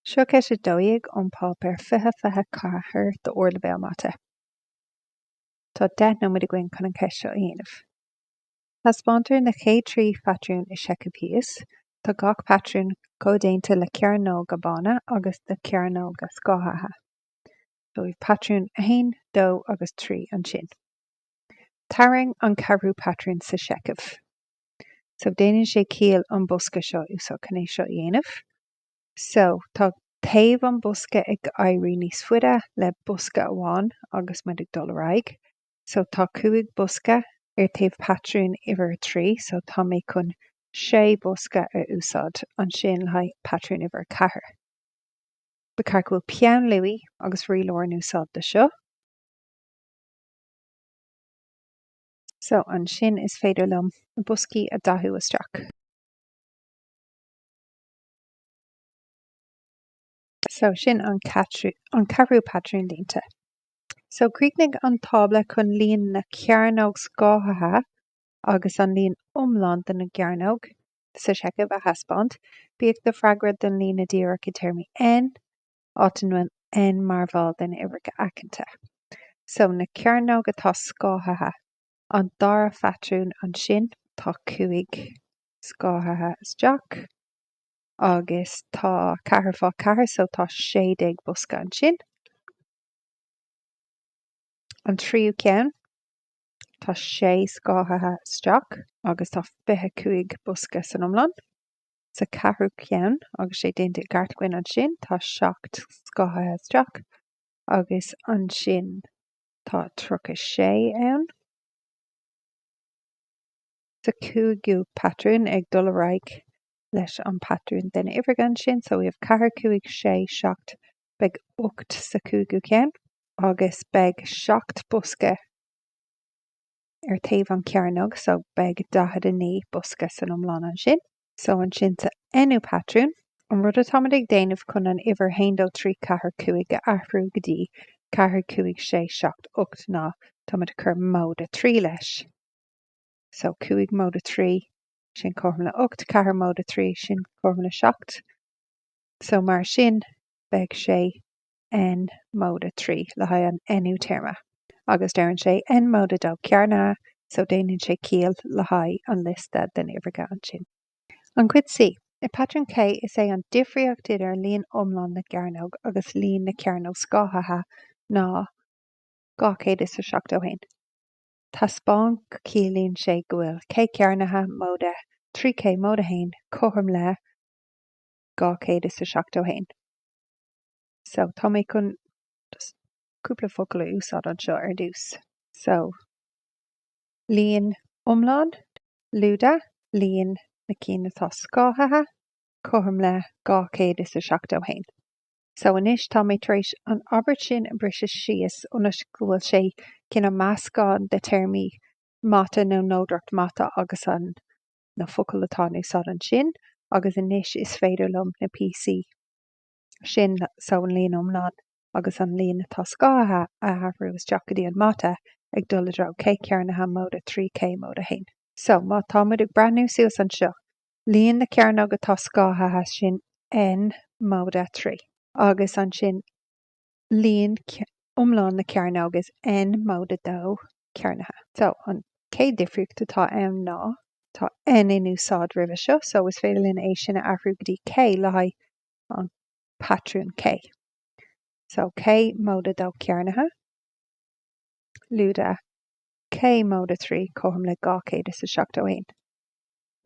Seo Ceist 12 ón bPáipéar Fiche Fiche Ceathair de Ardleibhéal Mata. Tá deich nóiméad againn chun an cheist seo a dhéanamh. Taispeántar na chéad trí phatrún i seicheamh thíos. Tá gach patrún comhdéanta de cearnóga bána agus de chearnóga scáthaithe. So we've patrún 1, 2 agus 3 ansin. Tarraing an ceathrú patrún sa seicheamh. So Déanann sé ciall an bosca seo a úsáid chun é seo a dhéanamh. So, tá taobh an bhosca ag éirí níos faide le bosca amháin agus muid ag dul ar aghaidh. So, tá cúig bosca ar taobh patrún uimhir a trí, so tá mé chun sé bhosca a úsáid ansin le haghaidh patrún uimhir a ceathair. Ba cheart go bhfuil peann luaidhe agus rialóir in úsáid dó seo. So, ansin is féidir liom na boscaí a dhathú isteach. So, sin an ceathrú patrún líonta. So, críochnaigh an tábla chun líon na cearnóg scáthaithe agus an líon iomlán de na gcearnóg sa seicheamh a thaispeáint. Bíodh do freagra don líne dheireanach i dtéarmaí N, áit a bhfuil N mar bhall de na huimhreacha aiceanta. So, na cearnóg atá scáthaithe. An dara phatrún ansin, tá cúig scáthaithe isteach agus tá ceathair fá cheathair so tá sé déag bosca ansin. An tríú ceann, tá sé scáthaithe isteach agus tá fiche cúig bosca san iomlán. Sa cheathrú ceann, agus tá sé déanta i gceart againn ansin, tá seacht scáthaithe isteach agus ansin, Tá 36 ann. Sa cúigiú patrún, ag dul ar aghaidh leis an patrún de na huimhreacha ansin, so we have ceathair, cúig, sé, seacht, beidh ocht sa cúigiú ceann agus beidh seacht bosca ar taobh an chearnóg so beidh 49 bosca san iomlán ansin. So ansin sa nú patrún, an rud atáimid ag déanamh chun an uimhir haon dó trí ceathair cúig a athrú go dtí ceathair cúig sé seacht ocht ná táimid ag cur móide a trí leis. So cúig móide a trí, sin cothrom le ocht, ceathair móide a trí, sin cothrom le seacht. So mar sin beidh sé N móide trí le haghaidh an Nú téarma, agus deireann sé N móide dó cearnaithe so déanann sé ciall le haghaidh an liosta de na huimhreacha ansin. An Chuid C, I patrún K is é an difríocht idir líon iomlán na gcearnóg agus líon na cearnóg scáthaithe ná 271. Taispeán go ciallaíonn sé go bhfuil K cearnaithe móide trí K móide haon cothrom le 271. So, tá mé chun cúpla focal a úsáid anseo ar dtús. So, líon iomlán, lúide, líon na cinn atá scáthaithe, cothrom le dhá chéad is a seachtó haon. So, anois, tá mé tar éis an abairt sin a bhriseadh síos ionas go bhfuil sé cineál meascán de théarmaí mata nó nodaireacht mata agus an, na focail atá in úsáid ansin agus anois is féidir liom na píosaí sin so an líon iomlán agus an líon atá scáthaithe a athrú isteach go dtí an mata ag dul i dtreo K cearnaithe móide trí K móide haon. So, má tá muid ag breathnú suas anseo, líon na cearnóg atá scáthaithe sin N móide trí agus ansin, líon iomlán na cearnóg is N móide 2 cearnaithe. So, an chéad difríocht atá ann ná, tá N in úsáid roimhe seo, so is féidir linn é sin a athrú go dtí K le haghaidh an patrún K. So, K móide 2 cearnaithe, lúide K móide 3 cothrom le 271.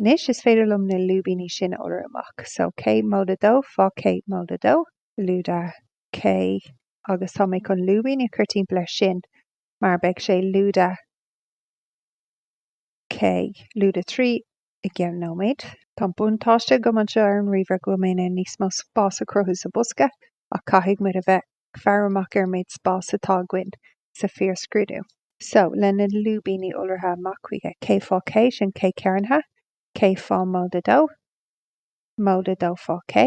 Anois, is féidir liom na lúibíní sin a iolrú amach. So, K móide 2 fá K móide 2. lúide K, agus tá mé chun lúibíní a chur timpeall air sin mar beidh sé lúide K, lúide 3 i gceann nóiméad. Tá an buntáiste agam anseo ar an ríomhaire go bhfuil mé in ann níos mó spás a chruthú sa bhosca ach caithfidh muid a bheith ag faire amach ar an méid spás atá againn sa fíor scrúdú. So, le na lúibíní iolraithe amach chuige, K fá K, sin K cearnaithe, K fá móide dó, móide dó fá K.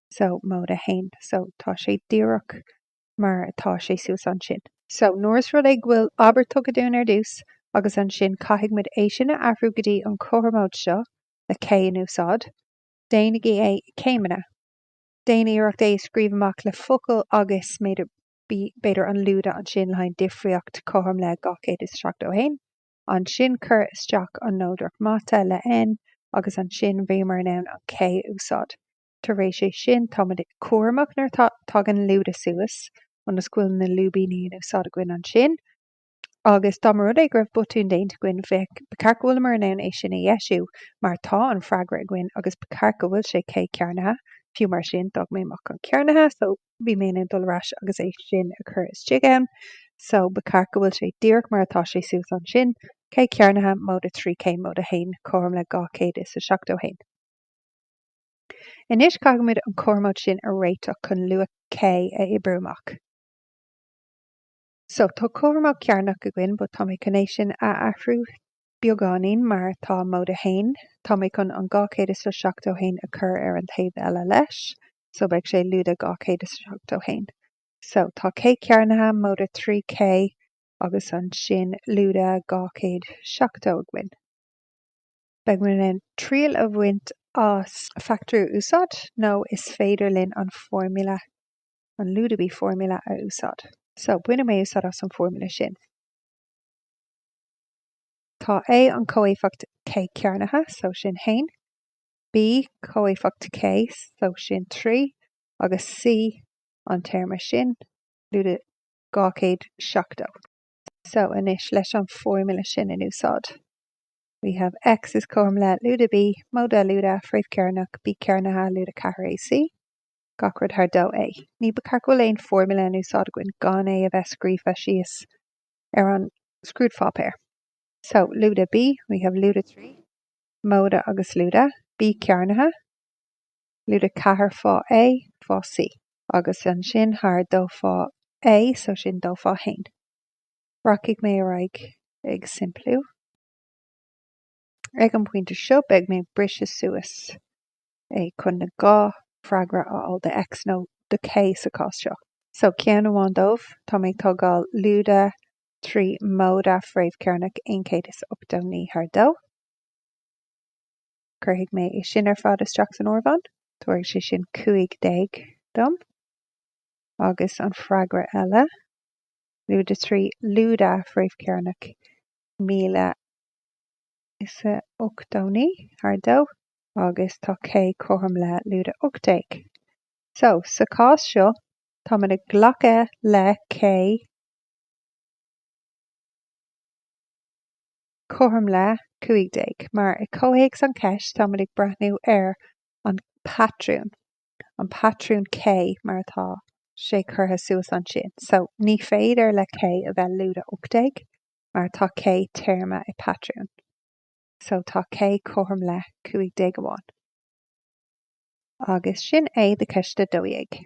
So, móide 1. So, tá sé díreach mar atá sé suas ansin. So, nuair is rud é go bhfuil abairt tugtha dúinn ar dtús agus ansin caithfidh muid é sin a athrú go dtí an chothromóid seo le K in úsáid, déanaigí é i céimeanna. Déan iarracht é a scríobh amach le focail agus b'fhéidir, an lúide ansin le haghaidh difríocht cothrom le 271. Ansin cuir isteach an nodaireacht mata le N agus ansin bhíomar in ann an K a úsáid. Tar éis é sin, táimid cúramach nuair atá tagann lúide suas ionas go bhfuil na lúibíní in úsáid againn ansin agus dá mba rud é go raibh botún déanta againn, bheadh, ba cheart go bhfuileamar in ann é sin a dheisiú mar tá an freagra againn agus ba cheart go bhfuil sé K cearnaithe. Fiú mar sin, d'fhág mé amach an cearnaithe so bhí mé in ann dul ar ais agus é sin a chur istigh ann. So ba cheart go bhfuil sé díreach mar atá sé suas ansin, K cearnaithe, móide trí K móide haon, cothrom le dhá chéad is a seachtó haon. Anois caithfimid an cothromóid sin a réiteach chun luach K a oibriú amach. So, tá cothromóid chearnach againn but tá mé chun é sin a athrú beagáinín mar atá móide 1, tá mé chun an 271 a chur ar an taobh eile leis, so beidh sé lúide 271. So, tá K cearnaithe, móide 3 K agus ansin lúide 270 againn. Beidh muid in ann triail a bhaint as fachtóirí a úsáid nó is féidir linn an formula, an lúide B formula a úsáid. So, bainfidh mé úsáid as an formula sin. Tá A an comhéifeacht K cearnaithe, so sin haon, B comhéifeacht K, so sin trí, agus C an téarma sin, lúide 270. So anois leis an formula sin in úsáid, we have X is cothrom le lúide B, móide lúide fréamh cearnach B cearnaithe lúide ceathair AC, gach rud thar 2A. Ní ba ceart go bhfuil aon formula in úsáid againn gan é a bheith scríofa síos ar an scrúdpháipéar. So lúide B, we have lúide 3, móide agus lúide B cearnaithe, lúide 4 fá A fá C agus ansin thar dó fá A so sin dó fá haon. Rachaidh mé ar aghaidh ag simpliú. Ag an bpointe seo beidh mé ag briseadh suas é chun na dhá freagra a fháil do X nó do K sa chás seo. So ceann amháin dóibh, tá mé ag tógáil lúide 3 móide fréamhchearnach 189 thar dó. Cuirfidh mé é sin ar fad isteach san áireamhán. Tabharfaidh sé sin 15 dom. Agus an freagra eile, Lúide 3, Lúide fréamh cearnach 1089, thar dó, agus tá K cothrom le Lúide 18. So, sa chás seo, táimid in ann glacadh le K. cothrom le 15, mar, i gcomhthéacs an ceist, táimid ag breathnú ar an patrún, an patrún K mar atá sé curtha suas ansin. So, ní féidir le K a bheith lúide 18 mar tá K téarma i patrún. So, tá K cothrom le 15 amháin. Agus sin é do cheist 12.